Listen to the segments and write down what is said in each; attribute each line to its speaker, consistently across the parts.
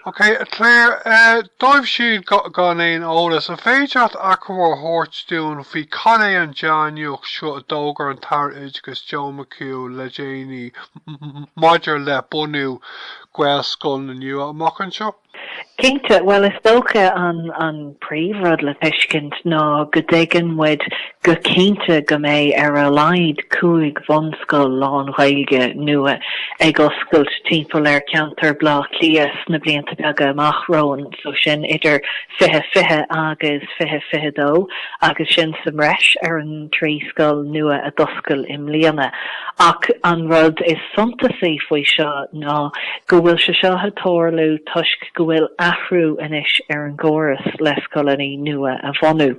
Speaker 1: Ok, a Clare, dóibh siúd gan aon eolas, an féidir leat achoimre a thabhairt dúinn faoi cad é an dea-nuacht seo a d'fhógair an tAire Oideachais Joe McHugh le déanaí maidir le bunú Gaelscoileanna nua amach anseo? Cinnte, bhuel
Speaker 2: is dócha an. príomhrud le tuiscint ná go dtuigeann muid go cinnte go mbeidh ar a laghad cúig bhunscoil lán-Ghaeilge nua ag oscailt timpeall ar cheantar Bhleá Cliath sna blianta beaga amach romhainn, so sin idir 2020 agus 2022, agus sin sa mbreis ar an trí scoil nua a d'oscail i mbliana. Ach an rud is suntasaí faoi seo ná go bhfuil sé seo ag tarlú toisc, go bhfuil athrú anois ar an gcóras le scoileanna nua a bhunú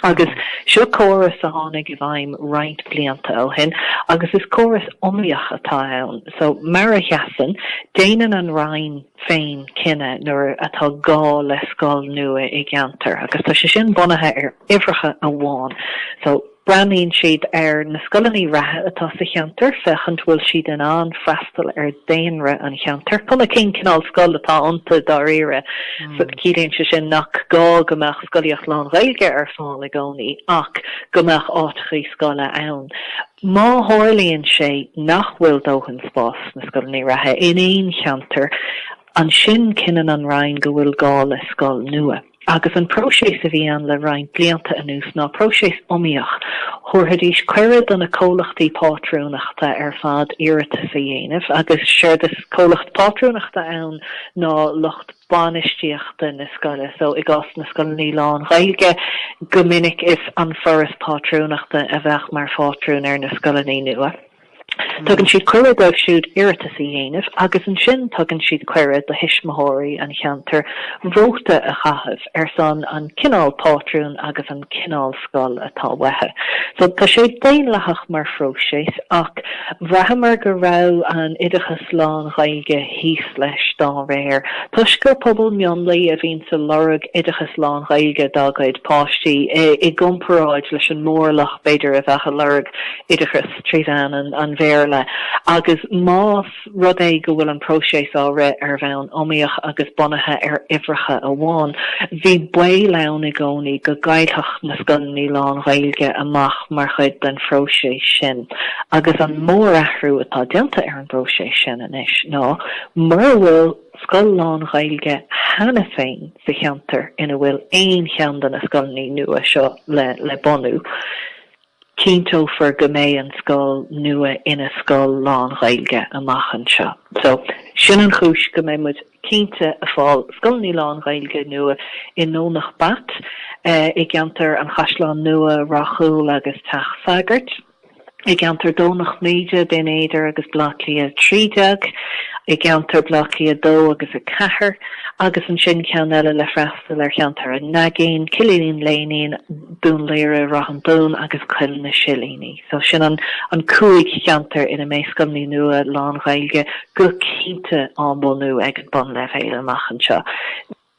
Speaker 2: agus seo córas a tháinig i bhfeidhm roinnt blianta ó shin agus is córas iomaíoch atá ann so mar a sheasann, déanann an Roinn féin cinneadh nuair atá gá le scoil nua i gceantar agus tá sé sin bunaithe ar uimhreacha amháin so. Breathnaíonn siad ar na scoileanna reatha atá sa cheantar féachaint bhfuil siad in ann freastal ar dhaonra an cheantair. Cuma cén cineál scoil atá iontu dáiríre. Ciallaíonn sé sin nach gá go mbeadh scolaíocht lán-Ghaeilge ar fáil i gcónaí ach go mbeadh áiteachaí scoile ann. Má tharlaíonn sé nach bhfuil dóthain spás sna scoileanna reatha in aon cheantar, ansin cinneann an Roinn go bhfuil gá le scoil nua. agus an próiseas a bhí ann le roinnt blianta anuas ná próiseas iomaíoch, thabharfaidís cuireadh do na comhlachtaí pátrúnachta ar fad iarratas a dhéanamh agus séard is comhlacht pátrúnachta ann ná lucht bainistíochta na scoile so i gcás na scoileanna lán-Ghaeilge go minic is An Foras Pátrúnachta a bheadh mar phátrún ar na scoileanna nua. Tugann siad cuireadh dóibh siúd iarratas a dhéanamh agus ansin tugann siad cuireadh do thuismitheoirí an cheantair vóta a chaitheamh ar son an cineál pátrún agus an cineál scoil atá uathu. So tá sé daonlathach mar phróiseas ach bhraitheamar go raibh an oideachas lán-Ghaeilge thíos leis dá réir. Toisc gur pobal mionlaigh a bhíonns ag lorg oideachas lán-Ghaeilge dá gcuid páistí i gcomparáid leis an mórlach b'fhéidir a bheadh ag lorg oideachas trí mheán an, an Bhéarla agus más rud é go bhfuil an próiseas á rith ar bhonn iomaíoch agus bunaithe ar uimhreacha amháin, bhí baol ann i gcónaí go gcaillfeadh na scoileanna lán-Ghaeilge amach mar chuid den phróiseas sin. Agus an mórathrú atá déanta ar an bpróiseas sin anois ná mura bhfuil scoil lán-Ghaeilge cheana féin sa cheantar ina bhfuil aon cheann de na scoileanna nua seo le, le bunú, Cinnteofar go mbeidh an scoil nua ina scoil lán-Ghaeilge amach anseo. So, sin an chúis go mbeidh muid cinnte a fáil scoileanna lán-Ghaeilge nua i nDomhnach Bat, i gceantar an Chaisleáin Nua, Ráth Cúil agus Teach Sagard, i gceantar Dhomhnach Míde, Binn Éadair agus Baile Átha Cliath 13, i gceantar Baile Átha Cliath 2 agus 4, agus ansin ceann eile le freastal ar cheantar an Naigín, Cill Iníon Léinín, Dún Laoghaire, Ráth an Dúin agus Coill na Silíní. So sin an cúig cheantar ina mbeidh scoileanna nua lán-Ghaeilge go cinnte á mbunú ag an bunleibhéal amach anseo.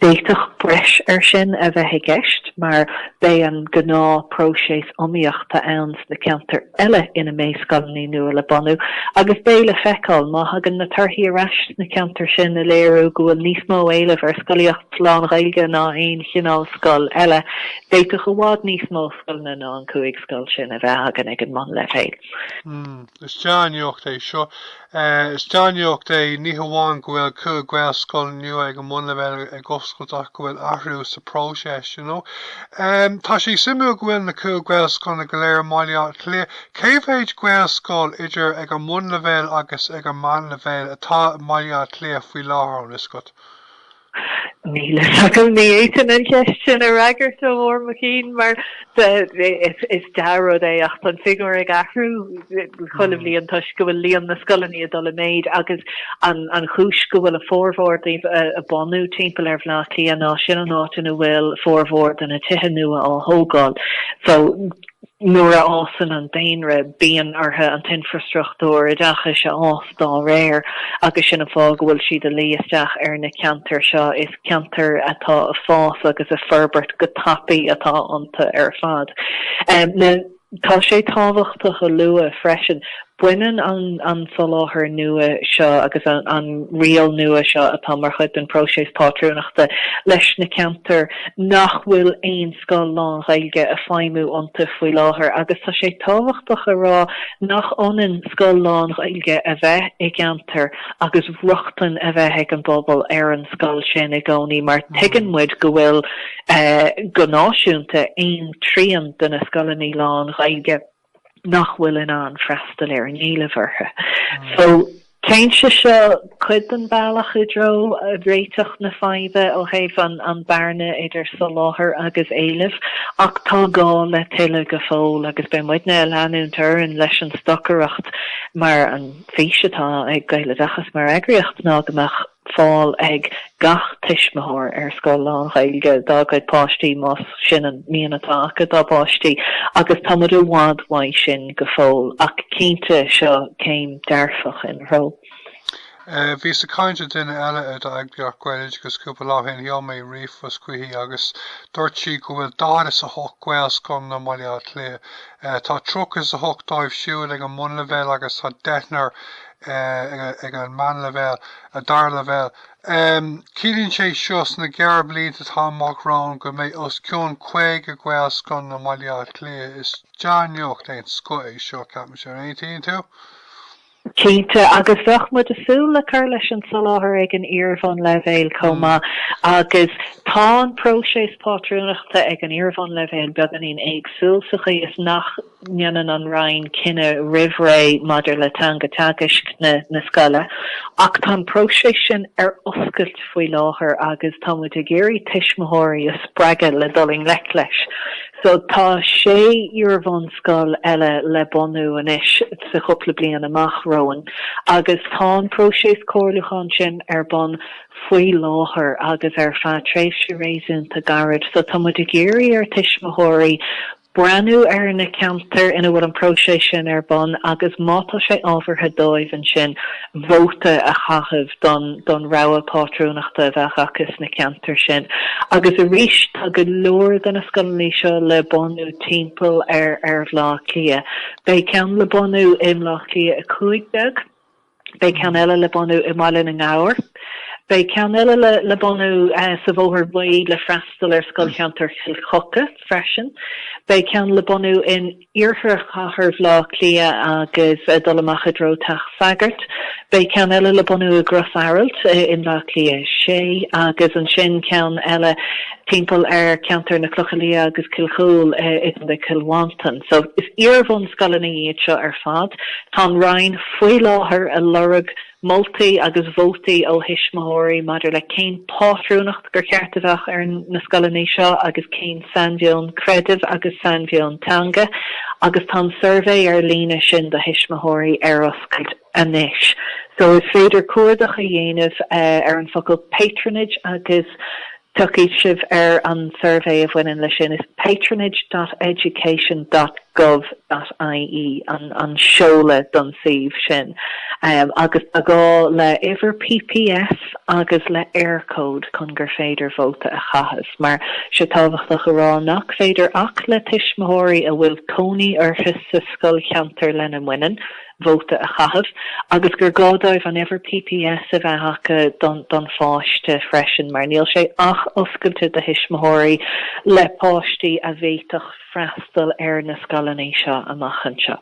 Speaker 2: D'fhéadfadh breis ar sin a bheith i gceist mar beidh an gnáth próiseas iomaíochta ann sna ceantair eile ina mbeidh scoileanna nua le bunú agus beidh le feiceáil má thagann na torthaí ar ais sna ceantair sin a léiriú go bhfuil níos mó éilimh ar scolaíocht lán-Ghaeilge ná aon chineál scoil eile D'fhéadfadh i bhfad níos mó scoileanna ná an cúig scoil sin a bheith againn ag an mbunleibhéal. Mm, is
Speaker 1: dea-nuacht é seo. Is dea-nuacht é ní hamháin go bhfuil cúig Ghaelscoil nua ag an mbunleibhéal ag oscailt ach go bhfuil athrú sa próiseas, you know. Tá sé suimiúil go bhfuil na cúig Ghaelscoileanna go léir i mBaile Átha Cliath. Cé mhéid Gaelscoil, idir ag an mbunleibhéal agus ag an meánleibhéal, atá i mBaile Átha Cliath faoi láthair, an bhfuil fhios agat?
Speaker 2: Níl fhios agam, ní fhéadfainn an cheist sin a fhreagairt ó bharr mo chinn mar is dea-rud é ach tá an figiúr ag athrú chuile bhliain toisc go bhfuil líon na scoileanna ag dul i méid agus an chúis go bhfuil a bhformhór díobh ag bunú timpeall ar Bhleá Cliath ná sin an áit ina bhfuil formhór de na tithe nua á thógáil so Nuair a fhásann an daonra bíonn orthu an t-infreastruchtúr oideachais a fhás dá réir agus sin an fáth go bhfuil siad a luí isteach ar na ceantair seo. Is ceantair atá ag fás agus ag forbairt go tapaidh atá iontu ar fad. Tá sé tábhachtach a lua freisin Baineann an soláthar nua seo agus an riail nua seo atá mar chuid den phróiseas pátrúnachta leis na ceantair nach bhfuil aon scoil lán-Ghaeilge a feidhmiú iontu faoi láthair agus tá sé tábhachtach a rá nach ionann scoil lán-Ghaeilge a bheith i gceantar agus rochtain a bheith ag an bpobal ar an scoil sin i gcónaí mar tuigeann muid go bhfuil, go náisiúnta, aon trian de na scoileanna lán-Ghaeilge. nach bhfuil in ann freastal ar an éileamh orthu. So, téann sé seo cuid den bhealach i dtreo réiteach na faidhbe ó thaobh an bearna idir soláthar agus éileamh, ach tá gá le tuilleadh go fóill agus beidh muidne a leanúint orainn leis an stocaireacht mar an fís atá ag Gaeloideachas mar eagraíocht ná go mbeadh fáil ag gach tuismitheoir ar scoil lán-Ghaeilge dá gcuid páistí más sin an mian atá acu dá bpáistí agus tá muid i bhfad uaidh sin go fóill ach cinnte seo céim dearfach ina threo.
Speaker 1: Bhíos ag caint le duine eile ó d'eagraíocht Gaeloideachas cúpla lá shin, sheol mé ríomhphost chuici agus dúirt sí go bhfuil daichead is a hocht Gaelscoileanna i mBaile Átha Cliath. Tá tríocha is a hocht díobh siúd ag an mbunleibhéal agus tá deichniúr ag an meánleibhéal, an dara leibhéal. Ciallaíonn sé seo sna gearrbhlianta atá amach romhainn go mbeidh os cionn 50 Gaelscoileanna i mBaile Átha Cliath. Is dea-nuacht den scoth é seo, ceapaimse, an aontaíonn tú?
Speaker 2: Cinnte, agus bheadh muid ag súil le cur leis an soláthar ag an iarbhunleibhéal chomh maith agus tá an próiseas pátrúnachta ag an iarbhunleibhéal beagáinín éagsúil sa chaoi is nach ndéanann an Roinn cinneadh roimh ré maidir le teanga teagaisc na scoile ach tá an próiseas sin ar oscailt faoi láthair agus tá muid ag iarraidh tuismitheoirí a spreagadh le dul i ngleic leis. So tá sé iarbhunscoil eile le bunú anois sa chúpla bliain amach romhainn agus tá an próiseas comhairliúcháin sin ar bun faoi láthair agus ar feadh tréimhse réasúnta gairid. So tá muid ag iarraidh ar thuismitheoirí, breathnú ar na ceantair ina bhfuil an próiseas sin ar bun agus má tá sé ábhartha dóibh ansin vóta a chaitheamh don don rogha pátrúnachta a bheadh acu sna ceantair sin. Agus arís tá go leor de na scoileanna seo le bunú timpeall ar ar Bhleá Cliath. Beidh ceann le bunú i mBleá Cliath 15, Beidh ceann eile le bunú i mBaile na nGabhar. Beidh ceann eile le bunú sa Bhóthar Bhuí le freastal ar scoilcheantar Chill Choca freisin. Beidh ceann le bunú in Iarthar Chathair Bhleá Cliath agus ag dul amach i dtreo Teach Sagard. Beidh ceann eile le bunú i gCrois Araild i mBleá Cliath 6 agus ansin ceann eile timpeall ar cheantar na Clocha Liatha agus Cill Chomhghaill i gContae Chill Mhantáin. So is iarbhunscoileanna iad seo ar fad. Tá an Roinn faoi láthair ag lorg moltaí agus vótaí ó thuismitheoirí maidir le cén pátrúnacht gur cheart a bheadh ar na scoileanna seo agus cén sainmheon creidimh agus sainmheon teanga agus tá an suirbhé ar líne sin do thuismitheoirí ar oscailt. anois. So is féidir cuardach a dhéanamh ar an focal patronage agus tiocfaidh sibh ar an suirbhé a bhaineann leis sin. Is patronage dot education dot gov dot ie an seoladh don suíomh sin agus tá gá le uimhir PPS agus le Eircode chun gur féidir vóta a chaitheamh. Mar tá sé tábhachtach a rá nach féidir ach le tuismitheoirí a bhfuil cónaí orthu sa scoilcheantar lena mbaineann, vóta a chaitheamh agus gur gá dóibh an uimhir PPS a bheith acu don pháiste freisin mar níl sé ach oscailte do thuismitheoirí le páistí a d'fhéadfadh freastal ar na scoileanna seo amach anseo.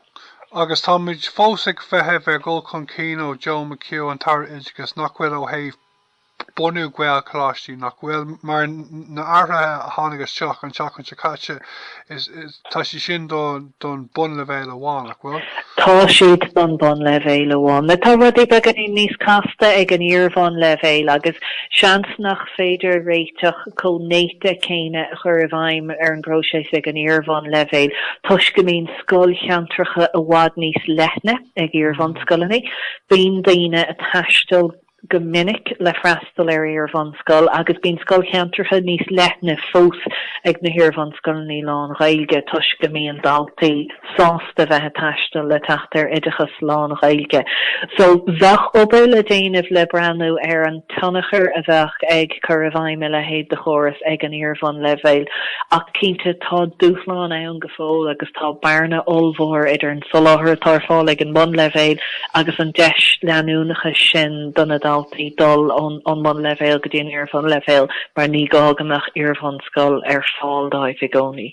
Speaker 2: Agus táimid
Speaker 1: fós ag feitheamh ar dhul chun cinn ó Joe McHugh, an tAire Oideachais, nach bhfuil ó thaobh bhunú Gaelcholáistí, nach bhfuil? Mar na hathruithe a tháinig isteach an tseachtain seo caite, tá siad sin don bunleibhéal amháin, nach bhfuil? Tá siad
Speaker 2: don bunleibhéal amháin. Now tá rudaí beagainín níos casta ag an iarbhunleibhéal agus seans nach féidir réiteach chomh néata céanna a chur i bhfeidhm ar an bpróiseas ag an iarbhunleibhéal toisc go mbíonn scoilcheantracha i bhfad níos leithne ag iarbhunscoileanna. Bíonn daoine ag taisteal. go minic le freastal ar iarbhunscoil agus bíonn scoilcheantracha níos leithne fós ag na hiarbhunscoileanna lán-Ghaeilge toisc go mbíonn daltaí sásta bheith ag taisteal le teacht ar oideachas lán-Ghaeilge. So bheadh obair le déanamh le breathnú ar an tionchar a bheadh ag cur i bhfeidhm a leithéid de chóras ag an iarbhunleibhéal ach cinnte tá dúshlán ann go fóill agus tá bearna ollmhór idir soláthar atá ar fáil ag an mbunleibhéal agus an deis leanúnachas sin do na daltaí dul ón mbunleibhéal go dtí an iarbhunleibhéal mar ní gá go mbeadh iarbhunscoil ar fáil dóibh i gcónaí.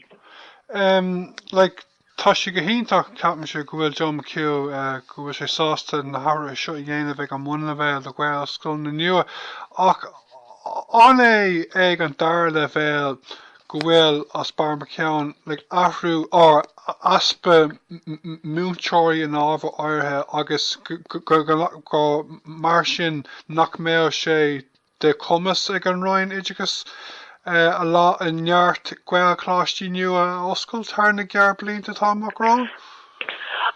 Speaker 2: Um,
Speaker 1: like, tá sé go hiontach ceapaimse go bhfuil Joe McHugh uh, go bhfuil sé sásta na hathruithe seo a dhéanamh ag an mbunleibhéal do Ghaelscoileanna nua ach an é ag an dara leibhéal go bhfuil easpa Joe McHugh ag athrú ar easpa múinteoirí in ábhair áirithe agus gur mar sin nach mbeadh sé de chumas ag an Roinn Oideachais a lán, neart Gaelcholáistí nua a oscailt thar na gearrbhlianta atá amach romhainn.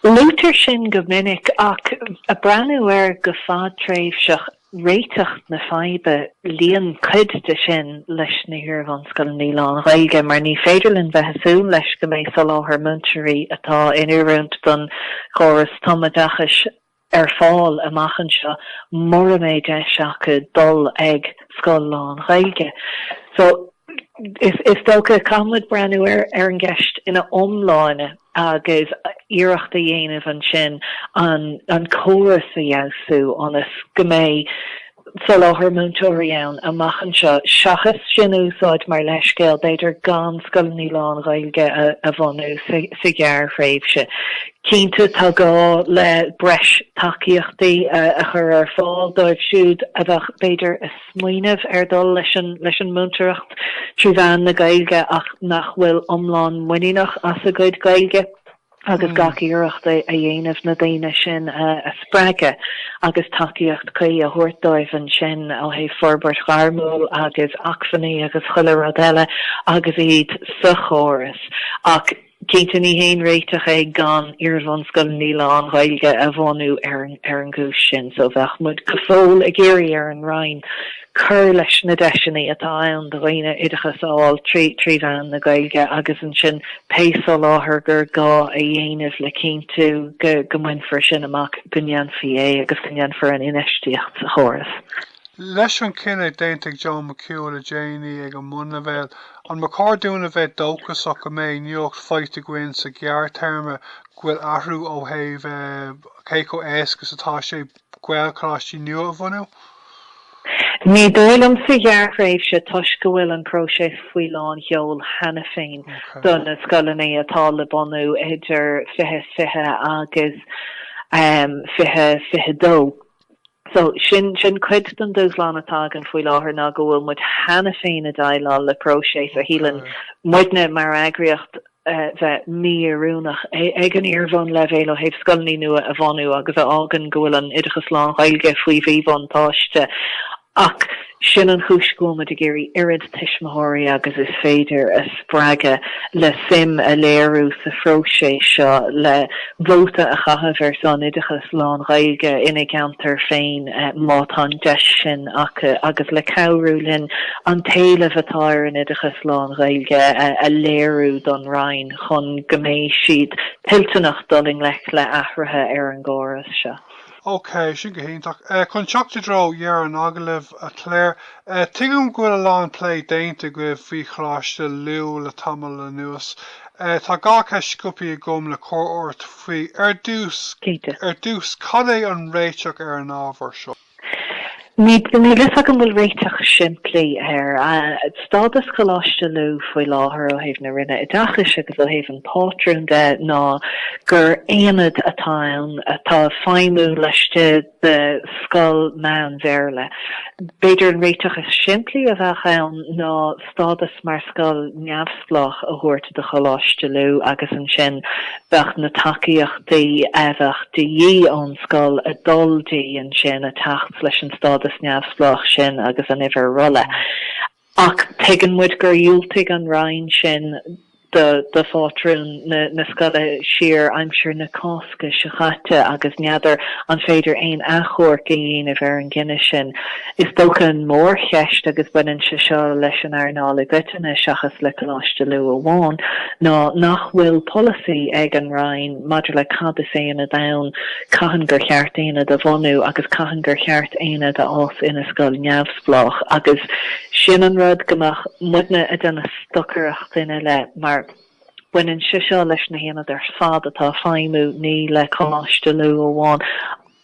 Speaker 2: Luaitear sin go minic ach ag breathnú air go fadtréimhseach réiteach na faidhbe. Luíonn cuid de sin leis na hiarbhunscoileanna lán-Ghaeilge mar ní féidir linn a bheith ag súil leis go mbeidh soláthar múinteoirí atá in oiriúint don chóras tumoideachais ar fáil amach anseo mura mbeidh deis acu dul ag scoil lán-Ghaeilge. So, is dócha, caithfimid breathnú ar ar an gceist ina iomláine. agus iarracht a dhéanamh ansin an córas a fheabhsú ionas go mbeidh soláthar múinteoirí ann amach anseo seachas sin a úsáid mar leithscéal b'fhéidir gan scoileanna lán-Ghaeilge a bhunú sa ghearrthréimhse. Cinnte tá gá le breis tacaíochtaí a chur ar fáil dóibh siúd a bheadh b'fhéidir a smaoineamh ar dhul leis an múinteoireacht trí mheán na Gaeilge ach nach bhfuil iomlán muiníneach as a gcuid Gaeilge agus gach iarracht a dhéanamh na daoine sin a spreagadh agus tacaíocht cuí a thabhairt dóibh ansin ó thaobh forbairt ghairmiúil agus acmhainní agus chuile rud eile agus iad sa chóras ach Cinnte ní hé an réiteach gan iarbhunscoileanna lán-Ghaeilge a bhunú ar an gcúis sin so bheadh muid go fóill ag iarraidh ar an Roinn cur leis na deiseanna atá ann do dhaoine oideachas a fháil trí mheán na Gaeilge agus ansin pé soláthar gur gá a dhéanamh le cinntiú go mbainfear sin amach go ndéanfaí é agus go ndéanfar an infheistíocht sa chóras. Leis
Speaker 1: an gcinneadh déanta ag Joe McHugh le déanaí ag an mbunleibhéal, an ba chóir dúinn a bheith dóchasach go mbeidh nuacht faighte againn sa ghearrthéarma go bhfuil athrú ó thaobh cé chomh éasca is atá sé Gaelcholáistí nua a
Speaker 2: bhunú? Ní dóigh liom sa ghearrthréimhse toisc go bhfuil an próiseas faoi lánseol cheana féin do na scoileanna atá le bunú idir 2020 agus 2022. So, sin, sin cuid den dúshlán atá againn faoi láthair ná go bhfuil muid cheana féin ag déileáil le próiseas a shíleann muidne mar eagraíocht bheith mí-oiriúnach ag an iar-bhunleibhéal ó thaobh scoileanna nua a bhunú agus a fhágann go bhfuil an oideachas lán-Ghaeilge faoi mhíbhuntáiste Ach sin an chúis go bhfuil muid ag iarraidh oiread tuismitheoirí agus is féidir a spreagadh le suim a léiriú sa phróiseas seo le vóta a chaitheamh ar son oideachas lán-Ghaeilge ina gceantar féin má tá an deis sin acu agus le cabhrú linn an t-éileamh atá ar an oideachas lán-Ghaeilge a léiriú don Roinn chun go mbeidh siad toilteanach dul i ngleic le athruithe ar an gcóras seo. Ok,
Speaker 1: sin go hiontach. Eh, chun teacht i dtreo dheireadh an agallaimh, a Clare, eh, tuigim go bhfuil a lán plé déanta agaibh faoi Choláiste Lú le tamall anuas. Eh, tá dhá cheist sciobtha agam le cur ort faoi. Ar dtús, ar dtús, cad é an réiteach ar an ábhar seo?
Speaker 2: Níl a fhios agam bhfuil réiteach simplí. Á, stádas Choláiste Lú faoi láthair ó thaobh na Roinne Oideachais agus ó thaobh an phátrúin de ná gur aonad atá ann atá ag feidhmiú laistigh de scoil meán-Bhéarla. B'fhéidir an réiteach is simplí a bheadh ann ná stádas mar scoil neamhspleách a thabhairt do Choláiste Lú agus ansin bheadh na tacaíochtaí a bheadh de dhíth ón scoil ag dul di ansin ag teacht leis an stádas neamhspleách sin agus an uimhir rolla. Ach tuigeann muid gur dhiúltaigh an Roinn sin do do phátrún na na scoile siar aimsir na Cásca seo chaite agus n'fheadar an féidir aon achomharc a dhéanamh ar an gcinneadh sin. Is dócha an mór cheist agus baineann sé seo leis an earnáil i gcoitinne seachas le Coláiste Lú amháin ná nach bhfuil polasaí ag an Roinn maidir le cad is aonad ann, cathain gur cheart aonad a bhunú agus cathain gur cheart aonad a fhás ina scoil neamhspleách agus sin an rud go mbeadh muidne ag déanamh. stocaireacht uirthi le mar baineann sé seo leis na haonaid ar fad atá ag feidhmiú ní le Coláiste Lú amháin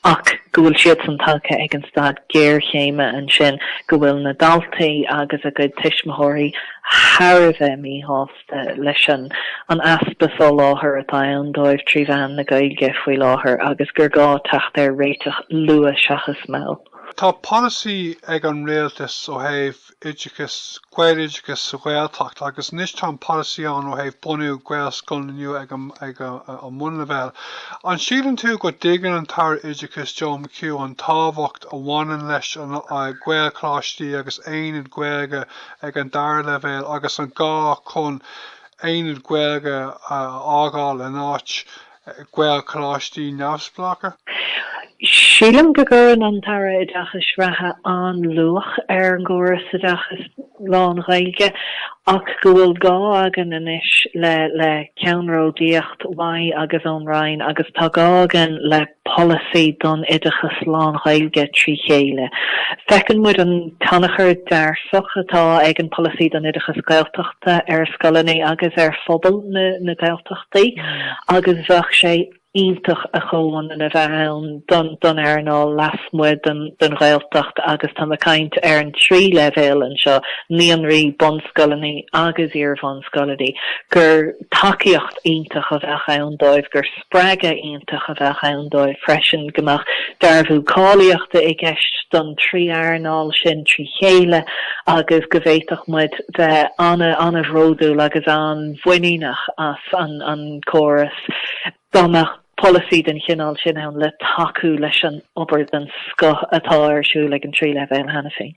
Speaker 2: ach go bhfuil siadsan tagtha ag an staid géarchéime ansin go bhfuil na daltaí agus a gcuid tuismitheoirí thar a bheith míshásta leis an easpa soláthair atá ann dóibh trí mheán na Gaeilge faoi láthair agus gur gá teacht ar réiteach luath seachas mall. Tá polasaí
Speaker 1: ag an rialtas ó thaobh oideachais, gaeloideachais sa Ghaeltacht agus anois tá an polasaí ann ó thaobh bunú gaelscoileanna nua ag an mbunleibhéal. An síleann tú go dtuigeann an tAire Oideachais Joe McHugh an tábhacht a bhaineann le gaelcholáistí agus aonad Gaeilge ag an dara leibhéal agus an gá chun aonad Gaeilge a fháil in áit Gaelcholáistí
Speaker 2: neamhspleácha. Sílim go gcuireann an tAire Oideachais reatha an-luach ar an gcóras oideachais lán-Ghaeilge ach go bhfuil gá againn anois le ceannródaíocht uaidh agus ón Roinn agus tá gá againn le polasaí don oideachas lán-Ghaeilge trí chéile. Feiceann muid an tionchar dearfach atá ag an bPolasaí don Oideachas Gaeltachta ar scoileanna agus ar phobal na Gaeltachta. Agus bheadh sé iontach a chomhionann a bheith ann don earnáil lasmuigh den Ghaeltacht agus tá mé ag caint ar an trí leibhéal anseo, naíonraí, bunscoileanna agus iarbhunscoileanna, gur tacaíocht iontach a bheadh ann dóibh, gur spreagadh iontach a bheadh ann dóibh freisin go mbeadh dearbhú cáilíochta i gceist don trí earnáil sin trí chéile agus go bhféadfadh muid bheith an-bhródúil agus an-mhuiníneach as an gcóras dá mbeadh polasaí den chineál sin ann le tacú leis an obair den scoth atá ar siúl ag an trí leibhéal cheana féin.